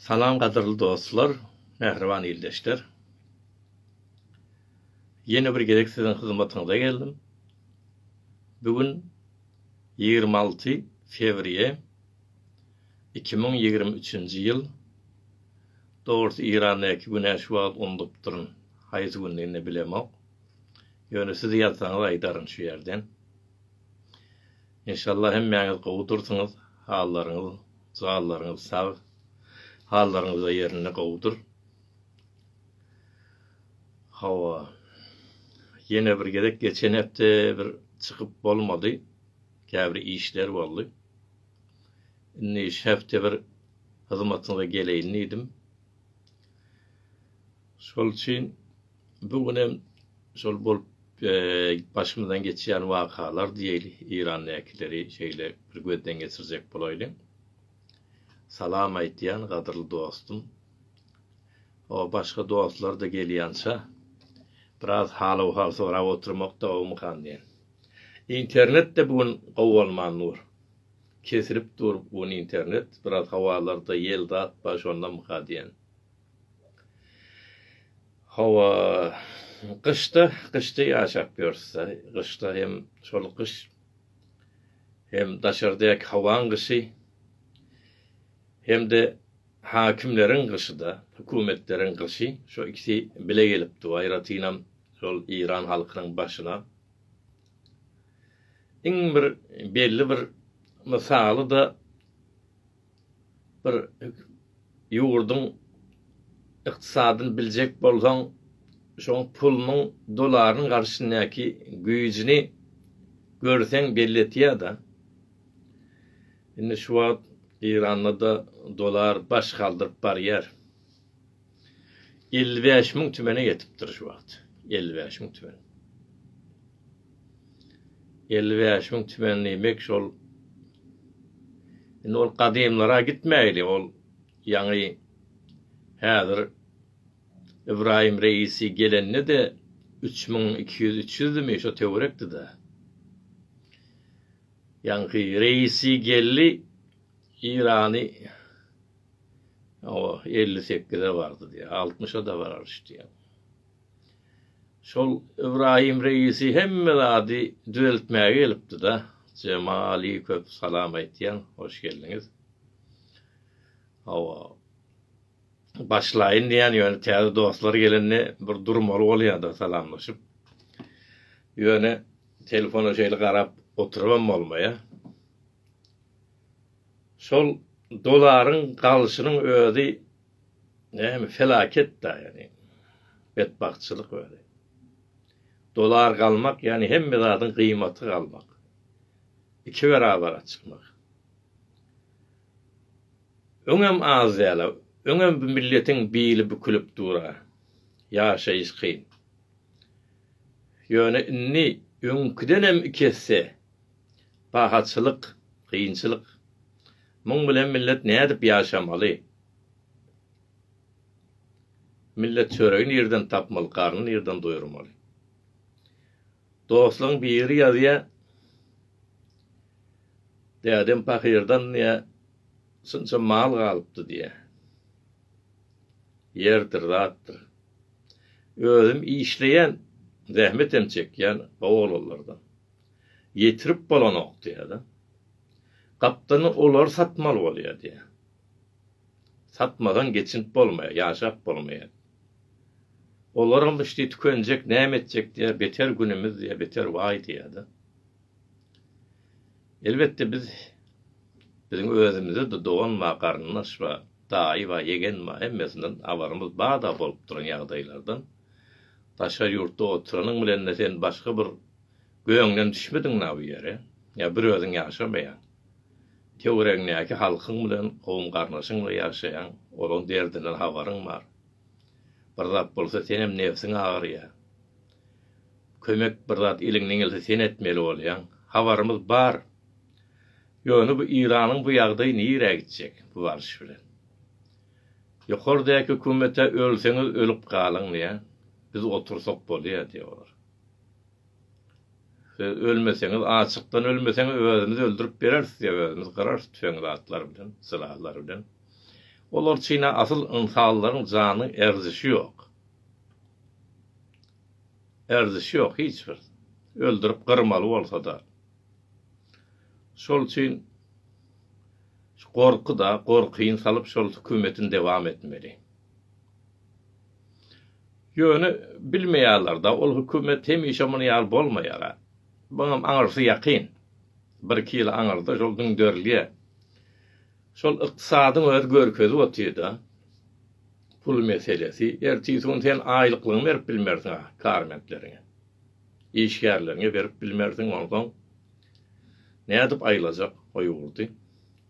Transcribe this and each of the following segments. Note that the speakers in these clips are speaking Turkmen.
Salam gadyrly dostlar, mähriban ildeşler. Ýene bir gezek siziň hyzmatyňyza geldim. Bu gün ýigrimi alty fewriýe iki müň ýigrimi üçünji ýyl. Dogrusy Yrandaky güne şu wagt undupdyryn. Haýsy gündigini bilemok. Ýöne siz ýazsaňyz aýdaryn şu ýerden. Enşalla hemmäňiz gowy dursyňyz hallaryňyz jallaryňyz sag hallaryňyzda ýerinde gowudyr hawa ýene bir gezek geçen hepde bir çykyp bolmady käbir işler boldy indi şu hepde bir hyzmatyňyza geleýin diýdim şol üçin Bu gün hem şol bolup başymyzdan geçýän wakalar diýeli Irandäkileri şeýle bir gözden geçirjek bolaýlyň. Salam aýtýan gadyrly dostum. O başga dostlar da gelýänçä biraz hal-ahwal sorap oturmak dowamykan diýen. Internet de bu gün gowy bolman dur. Kesilip dur bu internet, biraz hawalarda ýel zat bar şondamyka diýen. Hawa, gyşda, gyşda ýaşap ýörüs-dä. Gyşda hem şol gyş, hem daşardaky howaň gyşy, hem-de häkimleriň gyşy-da, hökümetleriň gyşy, şo ikisi bile gelipdi. Aýratynam şol Eýran halkynyň başyna iň bir belli bir mysaly-da Bir ýurduň ykdysadyny biljek bolsaň, şoň pulunyň, dolarynyň garşyndäki güýjüni görseň belli etýär-de. Indi şu wagt Eýranda-da dolar baş galdyryp barýar. Elli bäş müň tümene ýetipdir şu wagt. Elli bäş müň tümen. Elli bäş müň tümen diýmek şol. Indi ol gadymlara gitmäýli, ol ýaňy häzir Ibrahim Reisi gelende de üç müň iki ýüz, üç ýüzdimi şo töwerekdi-de. Ýaňky Reisi geldi, Eýrany Hawa, elli sekize bardy diýýär, altmyşa-da barar iş diýýär. Şol Ybraýym reisi hemme zady düzeltmäge gelipdi-de, Jemali köp salam aýtýan, hoş geldiňiz. Hawa, başlaýyn diýýän, ýöne täze dostlar gelende bir durmaly bolýar-da salamlaşyp. Ýöne telefona şeýle garap oturybam bolmaýar. Şol dolaryň galyşynyň özi näme felaket da ýani betbagtçylyk özi. Dolar galmak ýani hemme zadyň gyýmaty galmak. Iki berabara çykmak. Öňem az däla, öňem bu milletiň bili bükülip dura. Ýaşaýyş kyn. Ýöne indi öňküdenem iki esse. Pahaçylyk, kynçylyk. Muň bilen millet nädip ýaşamaly? Millet çöregi nirden tapmaly, garny nirden doýurmaly? Dostlaň biri ýazýa, Dädem pahyrdan diýä, şunça mal galypdy diýä. Ýerdir, zatdyr. Özüm işleýän, zähmetem çekýän, gowy oglanlardan. Ýetirip bolanok diýýärler. Gapdalynda olary satmaly bolýar diýýär. Satmadan geçinip bolmaýar, ýaşap bolmaýar. Olaram iş diýip tükenjek, näme etjek diýýär, beter günümiz diýýär, beter waý diýýär-de. Elbetde biz biziň özümizde-de dogan bar, garyndaş bar, daýy bar, ýegen bar, hemmesinden habarymyz bar-da bolup duran ýagdaýlardan. Daşary ýurtda oturanyň bilen-de sen başga bir Göňden düşmediňmi-a bu ýere? Ýa bir özüň ýaşamaýaň? Töweregiňdäki halkyň bilen, kowum-garyndaşyň-la ýaşaýaň, olaň derdinden habaryň bar. Bir zat bolsa senem nebsiň agyrýar. Kömek bir zat eliňden gelse sen etmeli bolýaň. Habarymyz bar. Ýöne bu Iranyň bu ýagdaýy nirä gitjek bu baryş bilen? Ýokardaky hökümete ölseňiz ölüp galyň diýýär, biz otursak bolýar diýýär olar. Siz ölmeseňiz, açykdan ölmeseňiz, özümiz öldürip bereris size, özümiz gyrarys tüfeň zatlar bilen, sylaglar bilen. Olar çyn-a asyl ynsanlaryň janyň erzişi ýok. Erzişi ýok hiç bir. Öldürip gyrmaly bolsa-da. Şol üçin şu gorky-da, gorkyny salyp şol hükümetiň dewam etmeli. Ýöne bilmeýärler-de, ol hökümet hemişe muny ýaly bolmaýar-a. Muňam aňyrsy ýakyn. Bir-iki ýyl aňyrda şol düňderilýär. Şol ykdysadyň özi görkezip otyr-da. Pul meselesi. Ertesi gün sen aýlyklygyňy berip bilmersiň-ä karmentleriňe. Işgärleriňe berip bilmersiň, onsoň nädip aýlajak o ýurdy?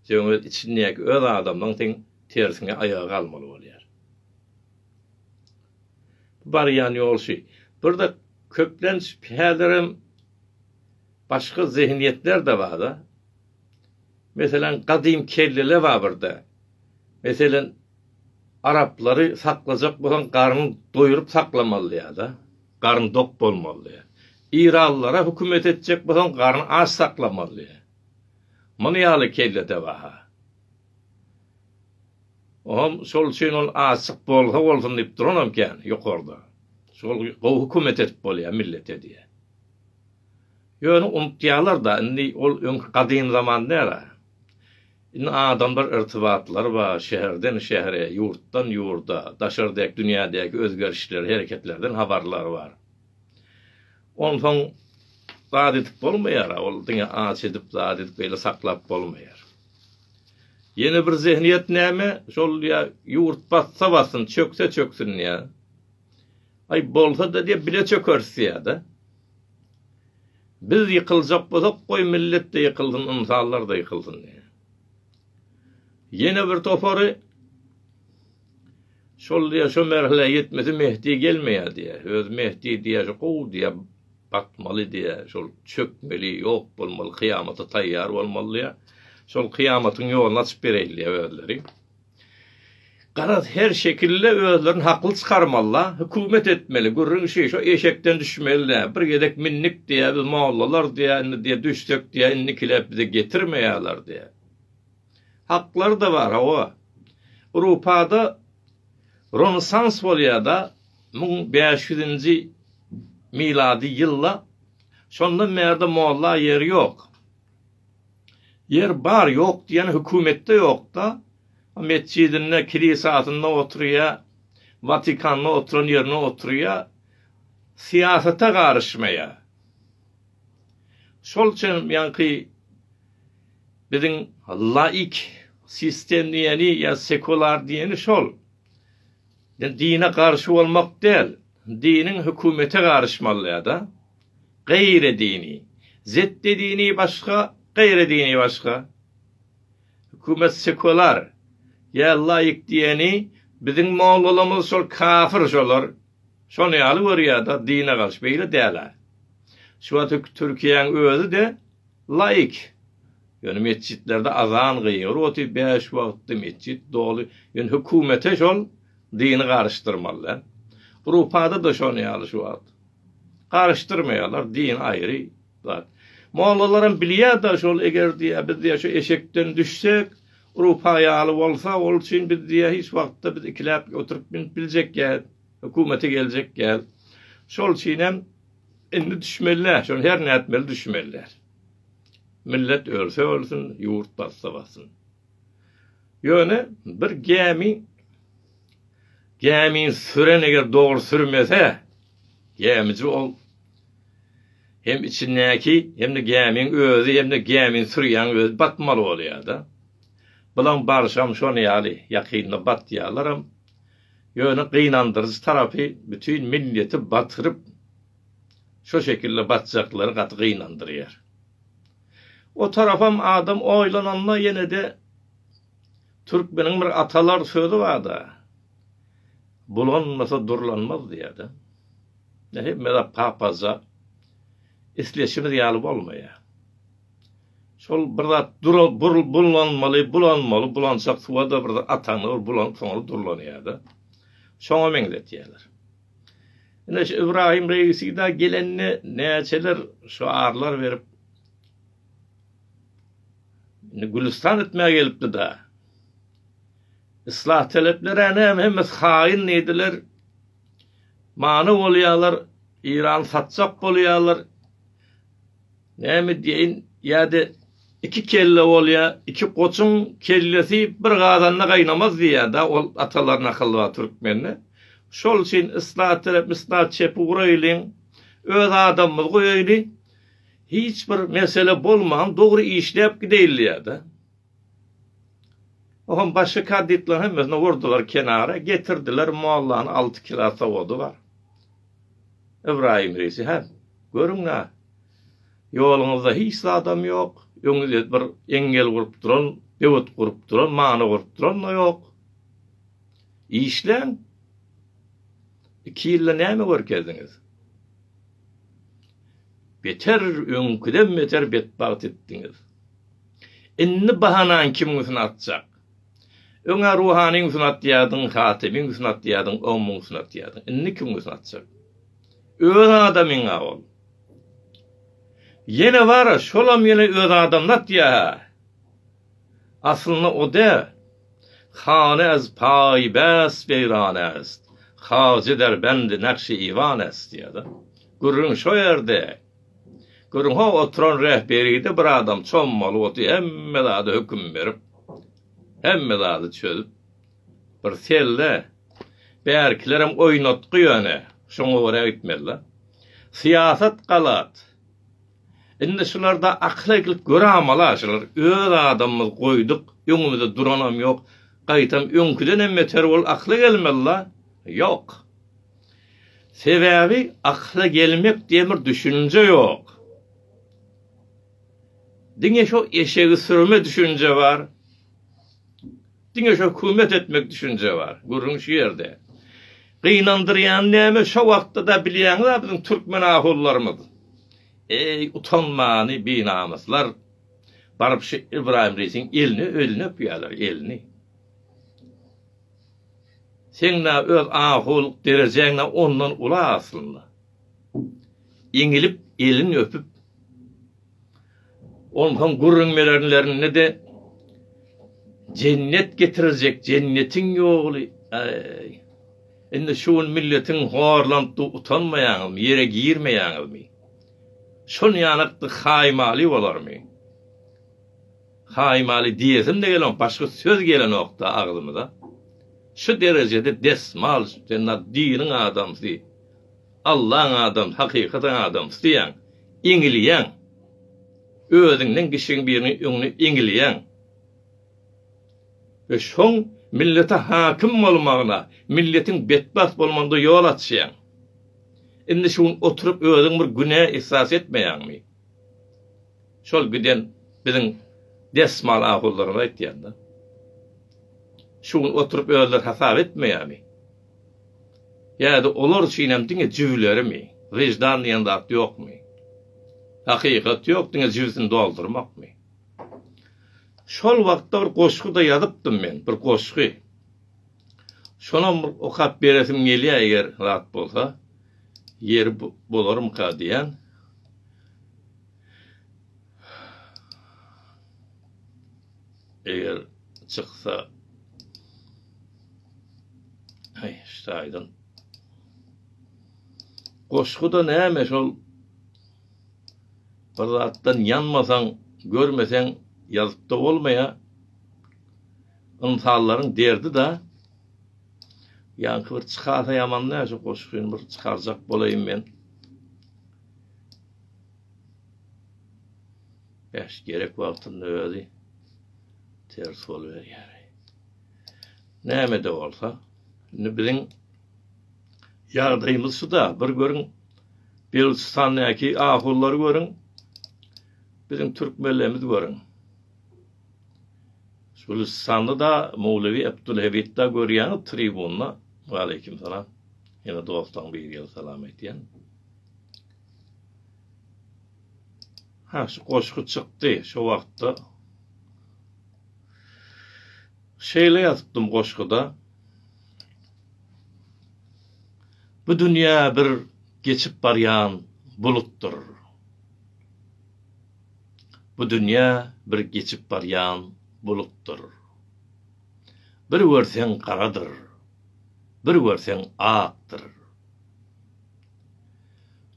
Seň öz içiňdäki öz adamlaryň seň tersine aýaga galmaly bolýar. Barýan ýolşy. Bir-de köplenç häzirem başga zehinýetler-de bar-da. Meselem, gadym kelleler bar bir-de. Meselem, araplary saklajak bolsaň, garnyny doýuryp saklamalydyýar-da. Garny dok bolmalydyýar. Eýranlylara hökümet etjek bolsaň, garny aç saklamalydyýar. Muny ýaly kelle-de bar-ha. Oňam şol üçin ol açyk bolsa bolsun diýip duranam kän ýokarda. Şol gowy hökümet edip bolýar millete diýýär. Ýöne unutýarlar-da, indi ol öňki gadym zaman däl-ä. Indi adamlar irtibatlary bar, şäherden şähere, ýurtdan ýurda, daşardaky dünýädäki özgerişleri, hereketlerden habarlary bar. Onsoň zat edip bolmaýar-a, ol diňe aç edip, zat edip beýle saklap bolmaýar. Ýene bir zehniyet näme şol diýä ýurt batsa batsyn çökse çöksün diýä. Aý bolsada diýä bile çökeris diýädä. Biz ýykyljak bolsak goý milletde ýykylsyn ynsanlarda ýykylsyn diýä. Ýene bir topary şol diýä şo merhile ýetmese mehdi gelmeýä diýä. Öz mehdi diýä gowy diýä Batmaly diýýä, şol çökmeli, ýok bolmaly, kyýamata taýýar bolmaly diýýä. Şol kyýamatyň ýoluny açyp bereýin diýýä özleri. Garaz, her şekilde özlerini hakly çykarmaly-la, hökümet etmeli, gürrüň şi, şo eşekden düşmeli-dä, bir gezek mindik diýýä, biz mollalar diýýä, indi diýýä, düşsek diýýä, indikilep bize getirmeýärler diýýä. Haklar-da bar, hawa. Rupada Rönesans bolýar-da, müň bäş ýüzünji milady ýylda. Şondan bärde molla ýeri ýok. Ýer bar, ýok diýýän hökümetde ýok-da. Metjidinde, kilisasynda oturýar, Watikanda oturan ýerinde oturýar. Syýasata garyşmaýar. Şol üçin ýaňky Biziň laik, sistem diýeni ýa sekular diýeni şol. Ýa dine garşy bolmak däl, diniň hökümete garyşmalyada. Gaýry dini. Zetde dini başga, gaýry dini başga. Hökümet sekular ýa laik diýeni biziň mollalarymyz şol kafir şolar. Şony ýaly görýärda dine garşy beýle dälä. Şu wagt Türkiýäň özüde laik. Ýöne metjitlerde azan gygyryp otyr bäş wagtda metjit doly. Ýöne hökümete şol dini garyşdyrmaly dä. Grupada da şony ýaly şu wagt. Garyşdyrmaýarlar din aýry zat. Mollalaram bilýär da şol eger diýä biz diýä şu eşekden düşsek Rupaý ýaly bolsa, ol üçin biz diýýär, hiç wagtda biz ikiläp oturyp münüp biljek däl, hökümete geljek däl. Şol üçin hem indi düşmeliler, şony her nätmeli düşmeliler. Millet ölse ölsün, ýurt batsa batsyn. Ýöne bir gämi gämini süren eger dogry sürmese, gämiji ol Hem içindäki hem-de gämiň özi hem-de gämini sürýäň özi batmaly bolýar-da. Bilaň barşam şon ýaly ýakynda batýarlaram. Ýöne gynandyryjy tarapy bütin milleti batyryp şo şekilde batjaklary gaty gynandyrýar. O tarapam adam oýlananda ýene-de türkmeniň bir atalar sözi bar-da, Bulanmasa durlanmaz diýýärdi. Ýa hemmezat papazja isleşimiz ýaly bolmaýar. Şol bir zat durup burup bulanmaly, bulanmaly, bulanjak suwa-da bir zat ataňda ol bulanyp soňra durlanýar-da. Şoňa meňzetýärler. Ine şu Ybraýym Reýisi-da gelende näçeler şyarlar berip Indi Gülüstan etmäge gelipdi-da. Yslah taleplerä näme hemmesi haýyn diýdiler. Many bolýalar, Irany satjak bolýalar. Näme diýeýin, ýa-da iki kelle bolýa, iki goçuň kellesi bir gazanda gaýnamaz diýýä-dä ol atalaryň akyly bar türkmende. Şol üçin yslah talep, yslah çepi guraýlyň, öz adamymyzy goýaýly, hiç bir mesele bolman dogry işläp gideýli diýýä-dä. Ohm başga kaditlaryň hemmesini urdular kenara, getirdiler mollany alty kila sowady bar. Ybraýym reýsi hem, görüň-ä, ýoluňyzda hiç zadam ýok, öňüňizde bir eňňel gurup duran, böwet gurup duran, many gurup duran-da ýok. Işläň! Iki ýylda näme görkezdiňiz? Beter, öňküden beter betbagt etdiňiz. Indi bahanaň kimiň üstüne atjak? Öň-ä ruhanyň üstüne atýardyň, hatybyň üstüne atýardyň, omuň üstüne atýardyň. Indi kimiň üstüne atjak? Öz adamyň-a ol. Ýene bar-a, şolam ýene öz adamyny atýar-a. Aslynda o-da Hany ez paý bäs beýran est, Hajy Derbendi nakş-i iwan est diýýär-de. Gürrüň şo ýerde. Görüň-how, oturan rähberide bir adam çommaly bolsa, hemme zada höküm berip, hemme zady çözüp, bir selle, bärkilerem oýnatgy ýöne, şoňa görä gitmeli-dä. Syýasat galat. Indi şularda akyl edilip göramala şular. Öz adamymyz goýduk, öňümizde duranam ýok, gaýtam öňküdenem beter bolup akyla gelmeli-dä. Ýok. Sebäbi akyla gelmek diýen bir düşünje ýok. Diňe şo eşegi sürme düşünje bar. Diňe şo hökümet etmek düşünje bar. Gürrüň şu ýerde. Gynandyrýany näme şo wagtda-da bilýäňiz-ä biziň türkmen ahunlarymyz. Eý, utanmany binamyslar. Baryp şu Ybraýym reisiň elini, elini öpýärler, elini. Seň-ä öz ahulyk derejäň-ä ondan uly aslynda. Eňilip, elini öpüp, onsoň gürrüň berenlerinde-de Jennet getirjek, jennetiň ýoly, äý, indi şu gün milletiň horlanypdy utanmaýaňyzmy, ýere girmeýäňizmi? Şonýanykdy haýmaly bolarmy? Haýmaly diýesim-de gelenok, başga söz gelenok-da agzymyza. Şu derejede desmal sen na diniň adamsy, Allaň adamsy, hakykatyň adamsy diýýäň, iňilýäň. Özüňden kiçigiň biriniň öňüne iňilýäň. We şoň millete hakim bolmagyna, milletiň betbagt bolmagynda ýol açýaň. Indi şu gün oturyp özüň bir günä ihsas etmeýäňmi? Şol giden biziň desmal ahunlarymyz aýtýan-da. Şu gün oturyp özleri hasap etmeýärmi? Ýa-da olar üçinem diňe jübülerimi? Wyždan diýen zat ýokmy? Hakykat ýok, diňe jübüsini doldurmakmy? Şol wagtda bir goşgy-da ýazypdym men, bir goşgy. Şonam bir okap beresim gelýär, eger zat bolsa, ýeri bolarmyka diýen. Eger çyksa Hey, şaýdan. Goşguda näme şol? Bir zatdan ýanmasaň, görmeseň ýazypda bolmaýa. Ynsanlaryň derdi da. Ýaňky bir çykasa ýaman näşe goşgyny bir çykarjak bolaýyn men. Bäş gerek wagtynda özi ters boluberýär. Näme-de bolsa, indi biziň ýagdaýymyz şu-da, bir görüň, Belüçistandaky ahunlary görüň, biziň türkmenlerimizi görüň. Gülüstanda-da Mowlewi Abdulhebitda görýäňiz tribunda. Waleýkim salam. Ýene dostaň biri gelip salam aýtýan. Ha şu goşgy çykdy şo wagtda. Şeýle ýazypdym goşguda. Bu dünýä bir geçip barýan bulutdyr. Bu dünýä bir geçip barýan bulutdyr. Bir görseň garadyr. Bir görseň akdyr.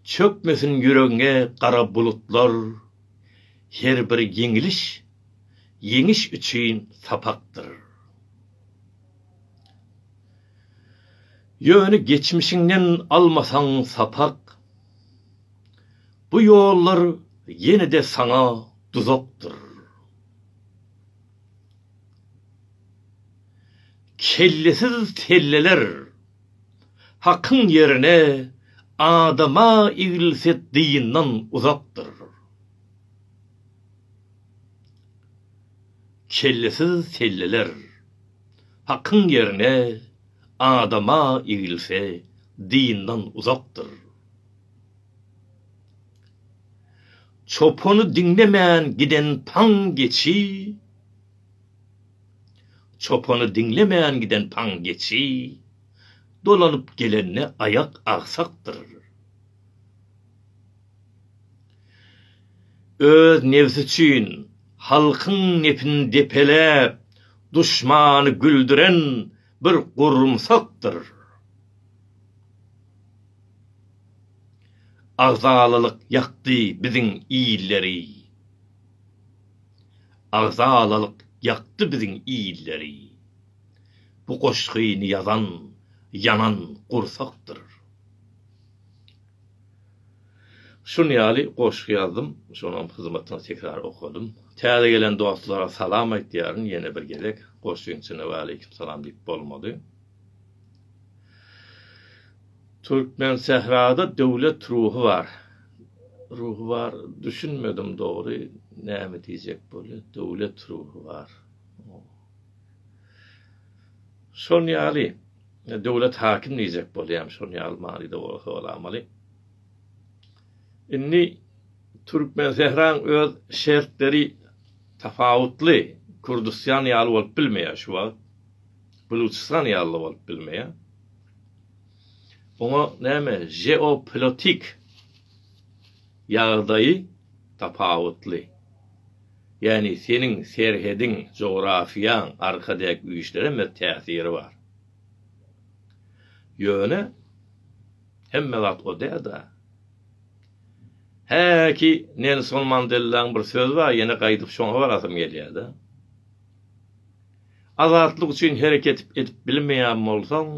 Çökmesin ýüregiňe gara bulutlar, her bir ýeňiliş, ýeňiş üçin sapakdyr. Ýöne geçmişiňden almasaň sapak, bu ýollar ýene-de saňa duzakdyr. Kellesiz telleler. Hakyň ýerine adama egilse dyndan uzakdyr. Kellesiz telleler. Hakyň ýerine adama egilse dyndan uzakdyr. Çopany diňlemän giden taň geçi. Çopany diňlemän giden paň geçi, dolanyp gelende aýak agsakdyr. Öz nebsi üçin halkyň nepini depeläp, duşmany güldüren bir gurumsakdyr. Agzalalyk ýakdy biziň illeri. Agzalalyk ýakdy biziň illeri. Bu goşgyny ýazan ýanan gursakdyr. Şun ýaly goşgy ýazdym, şonam hyzmatyna tekrar okadym. Täze gelen dostlara salam aýtýaryn ýene bir gezek. Goşgyň içinde waleýkim salam diýip bolmady. Türkmensährada döwlet ruhy bar. Ruhy bar düşünmedim dogry näme diýjek bolýa döwlet ruhy bar. Şol ýaly döwlet hakim diýjek bolýam şol ýaly manyda bolsa bolamaly. Indi Türkmensähraň öz şertleri tapawutly Kürdüstan ýaly bolup bilmeýär şu wagt. Buluçystan ýaly bolup bilmeýär. Oňa näme žeopolitik ýagdaýy tapawutly. Ýagny seniň serhediň, jografiýaň, arkadäki güýçleriň bir täsiri bar. Ýöne hemme wagt o dälda. Häki Nelson Mandellaň bir sözi bar, ýene gaýdyp şoňa barasym gelýärda. Azatlyk üçin hereket edip bilmeýän bolsaň,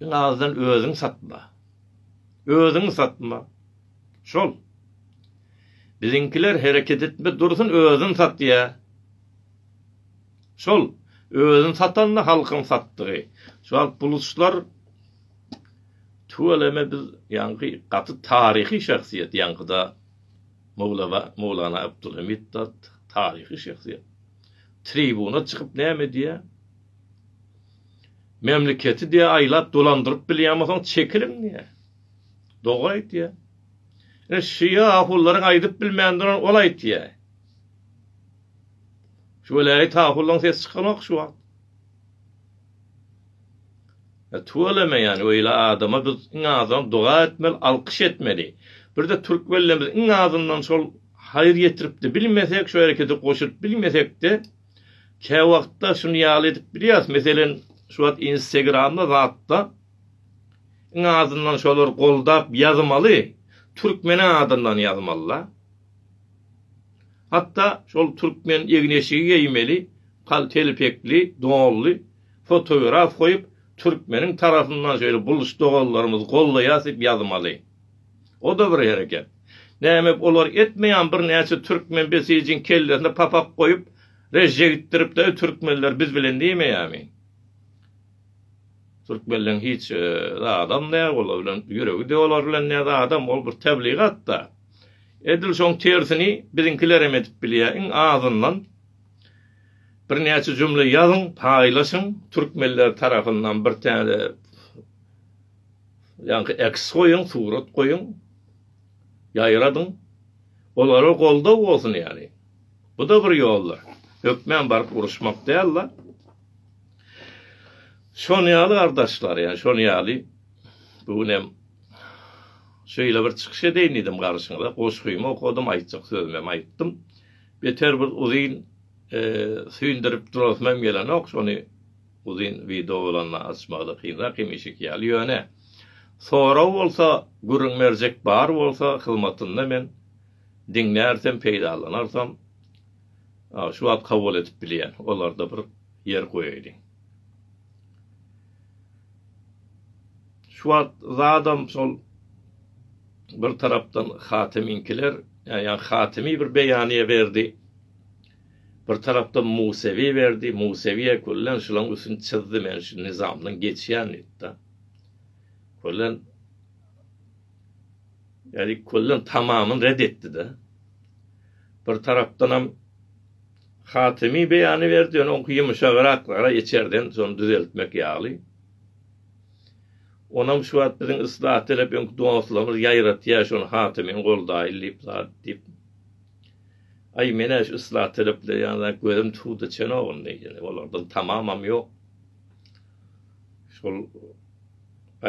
iň azdan özüňi satma. Özüňi satma. Şol. Biziňkiler hereket etme dursun özün satýa. Şol. Özün satanda halkyň satdygy. Şu wagt buluçlar tüweleme biz ýaňky gaty taryhy şahsyýet ýaňkyda Mowlana Abdulhamid dat taryhy şahsyýet. tribuna çykyp näme diýýär? Memleketi diýýär aýlap dolandyryp bilýänmisoň çekiliň diýýär. Dogry aýtýar. Ine şu ýahullaryň aýdyp bilmändirin ol aýtýar. Şu welaýat ahullaň ses çykanok şu wagt. E tuweleme ýani öýle adama biz iň azam doga etmeli alkyş etmeli. Birde türk bellemiz iň azyndan şol haýyr ýetiripdi bilmesek şu herekete goşulyp bilmesekde käwagtda şuny ýaly edip bilýäs meselen şu wagt instegramda zatda iň azyndan şolar goldap ýazmaly türkmen adyndan ýazmalyda. Hatda şol türkmen egin-eşigi geýmeli, paltelpekli, donly, fotograf goýup, türkmeniň tarapyndan şeýle buluş doganlarymyzy goldaýas diýip ýazmaly. O-da bir hereket. Näme olar etmeýärmi, birnäçe türkmen besijiň kellesine papak goýup, rejjegitdirip-de, türkmenler biz bilen diýmeýärmi? Türkmenleň hiç zadam ne olar bilen ýüregi de olar bilen ne zadam ol bir tebligat da. Edil şoň tersini biziňkilerem edip bilýär iň azyndan bir näçe jümle ýazyň paýlaşyň türkmenler tarapyndan bir täze ýaňky eks goýuň surat goýuň ýaýradyň olara goldaw bolsun ýaly. Bu da bir ýoldur. Hökmän baryp uruşmak däl da. Şony ýaly gardaşlar, ýa şony ýaly bu gün hem şeýle bir çykyş edeýin diýdim garşyňyza. Goşgymy okadym, aýtjak sözümi hem aýtdym. Beter bir uzyn e, süýndürip durasym hem gelenok, şony uzyn wideo bolanda açmagy-da kynrak hemişeki ýaly. Ýöne sorag bolsa, gürrüň berjek bar bolsa, hyzmatynda men diňlärsem, peýdalanarsam, şu wagt kabul edip bilýän. Olarda bir Ýer goýaýdy. Şu wagt zadam şol bir tarapdan Hatemiňkiler, ýa Hatemi bir beýanyýe berdi. Bir tarapdan Musewi berdi. Musewiýe köllen şulaň üstüni çyzdy, men şu nizamdan geçýän diýipdi. Köllen Ýa-ni köllen tamamyn red etdi-de. Bir tarapdanam Hatymy beýany berdi, ýöne oňky ýumşagyraklara içerden şony düzeltmek ýaly. Onam şu wagt biziň yslat talap öňki dostlarymyz ýaýratýar şony hatymyň goldaýyl diýip zat diýip. Aý menä şu yslat talaplar ýanyna gözüm tudy çenok indi ýene olardan tamamam ýok. Şol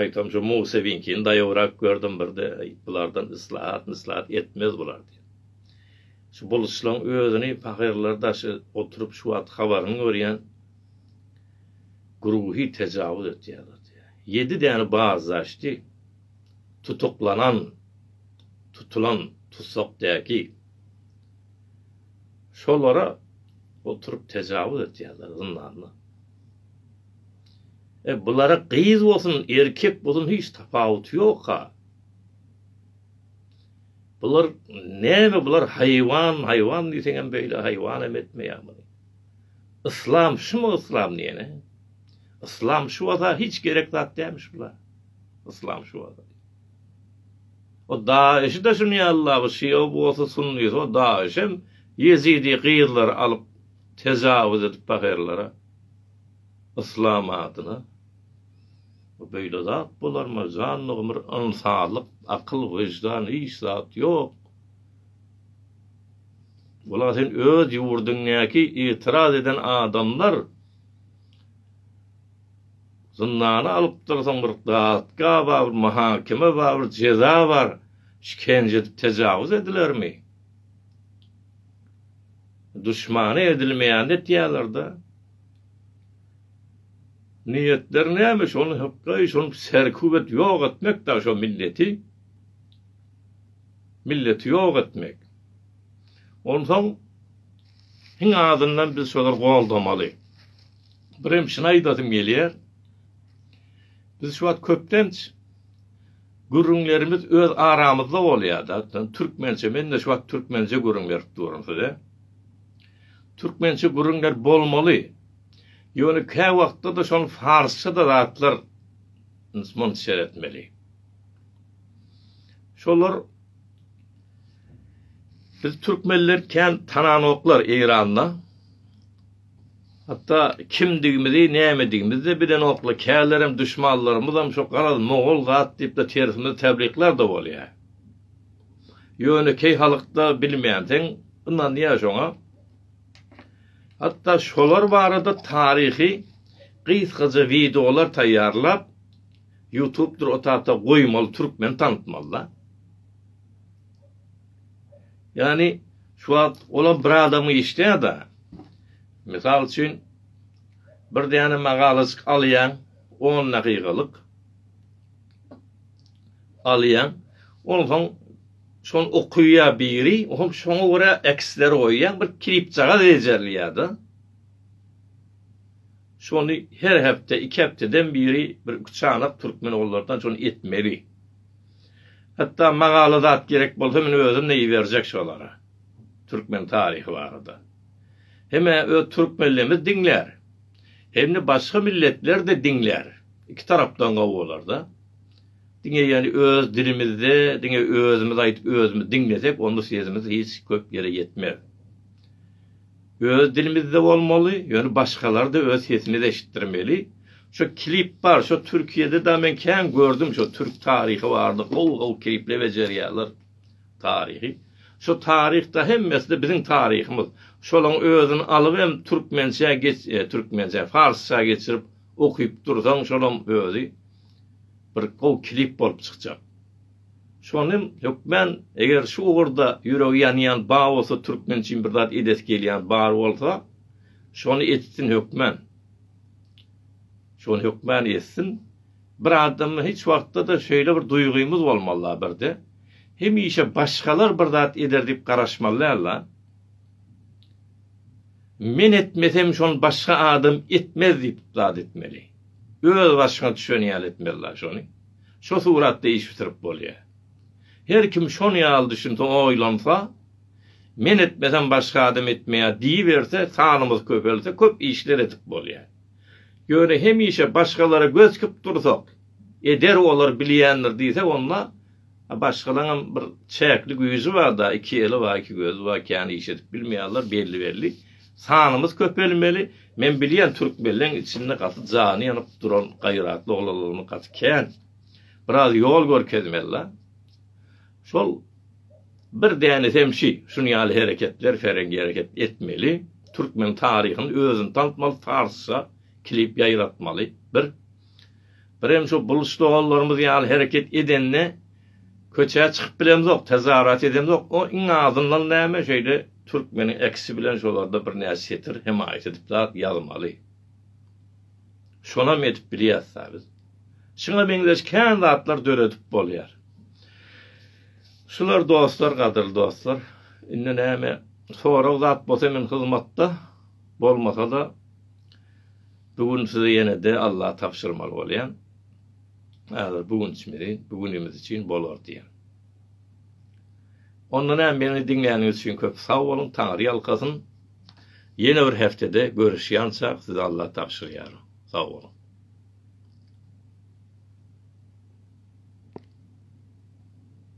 aýtam şu Musewiňkini daýawrak gördüm birde bulardan yslat yslat etmez bular diýip. Şu buluçlaň özüni pahyrlar daşy oturyp şu wagt habaryny görýän güruhi tejawuz etýärler diýýär. Ýedi däne bazdaşdy tutuklanan, tutulan tussakdäki. Şolara oturyp tejawuz etýärler zyndanda. E bulara gyz bolsun, erkek bolsun hiç tapawuty ýok-a. Bular näme bular haýwan haýwan diýseňem beýle haýwan hem etmeýär muny. Yslam şumy yslam diýene? Yslam şu bolsa hiç gerek zat dälmiş bular. Yslam şu bolsa. O daýyşy da şuny Allah bu şia bolsa sunny o daýyş hem ýezidi gyzlary alyp tejawuz edip paherlere. Yslam adyna. Bu beýle zat bolarmy, janly gymyr ynsanlyk, akyl, wyždan hiç zat ýok. Bula sen öz ýurdyňdaki itiraz eden adamlar zyndana alypdyr soň bir dadga bar, bir mahakeme bar, bir jeza bar, şikence edip tejawuz edilermi? Duşmana edilmeýänini etýärler-de. Niýetleri näme şony hypgaý şony serkup et ýok etmek dagy şo milleti milleti ýok etmek onsoň hiň azyndan biz şolary goldamaly birem şuny aýdasym gelýär biz şu wagt köplenç gürrüňlerimiz öz aramyzda bolýada türkmençe mende şu wagt türkmençe gürrüň berip durun size türkmençe gürrüňler bolmaly. Ýöne kä wagtda-da şol farsça-da zatlar ns-mns seretmeli. Şolar biz türkmenler kän tananoklar Eýranda. Hatda kimdigimizi, nämedigimizi-de bilenoklar. Kälerem duşmanlarymyzam şo garaz mogol zat diýip-de tersimizi tebliklär-de bolýar. Ýönekeý halykda bilmänsiň, ynanýar şoňa. Hatda şolar barada taryhy gysgaja wideolar taýýarlap ýutubdyr o tagta goýmaly türkmeni tanatmalyda. Ýani şu wagt olam bir adamy işleýärda. Mysal üçin bir däne magalajyk alýaň 10 dagygalyk alýaň onsoň Şony okaýa biri, hom şoňa görä eksler goýýan bir klipjagaz bejerlýärda. Şony her hepde, iki hepdeden biri bir iki çanak türkmen ogullardan şony etmeli. Hatda magala zat gerek bolsa men özüm-de iberjek şolara. Türkmen taryhy barada. Hemä öz türkmenlerimiz diňlär. Hem-de başga milletler-de diňlär. Iki tarapdan gowy bolar-da. Diňe ýaly öz dilimizde diňe özümiz aýdyp özümiz diňlesek onda sesimiz hiç köp ýere ýetmez. Öz dilimizde bolmaly, ýöne başgalar da öz sesimizi eşitdirmeli. Şu klip bar, şu Türkiýede da men kän gördüm şu türk taryhy barada gowy gowy klipler bejerýärler. Taryhy. Şu taryh da hemmesi de biziň taryhymyz. Şolaň özüni alyp hem türkmençä geç, e, türkmençä, farsça geçirip okyp dursaň şolam özi bir gowy klip bolup çykjak. Şonym hökmän eger şu ugurda ýüregi ýanýan bar bolsa türkmen üçin bir zat edesi gelýän bar bolsa şony etsin hökmän. Şony hökmän etsin. Bir adamda hiç wagtda-da şeýle bir duýgymyz bolmaly da birde. Hemişe başgalar bir zat eder diýip garaşmaly däl da. Men etmesem şony başga adam etmez diýip zat etmeli. Öz başyňa düşen ýaly etmeli la şony. Şo suratda iş bitirip bolýa. Her kim şon ýaly düşünse oýlansa, men etmesem başga adam etmeýär diýiberse sanymyz köpelse köp işler edip bolýa. Ýöne hemişe başgalara göz dikip dursak, Eder olar bilýändir diýse onda başgalaňam bir çäkli güýji barda iki eli bar iki gözi bar kän iş edip bilmeýärler belli belli sanymyz köpelmeli men bilýän türkmenleň içinde gaty jany ýanyp duran gaýratly oglanlaryny gaty kän biraz ýol görkezmeli la şol bir däne semşi şuny ýaly hereketler ferengi hereket etmeli türkmen taryhyny özüni tanatmaly farsça klip ýaýratmaly bir Birem şu buluç doganlarymyz ýaly hereket edende köçä çykyp bilemzok, tezarat edemzok. O iň azyndan näme şeýle türkmeniň ekisi bilen şolarda birnäçe setir hemaýat edip zat ýazmaly. Şonam edip bilýäs-dä biz. Şuňa meňzeş kän zatlar döredip bolýar. Şular dostlar, gadyrly dostlar. Indi näme sorag zat bolsa men hyzmatda, bolmasa-da Bu gün size ýene-de Allaha tabşyrmaly bolýan, häzir bu gün içimizi, bu günümiz üçin bolar diýen. Onda näme meni diňläniňiz üçin köp sag boluň, Taňry ýalkasyn. Ýene bir heftede görüşýänçak size Allaha tabşyrýaryn. Sag boluň.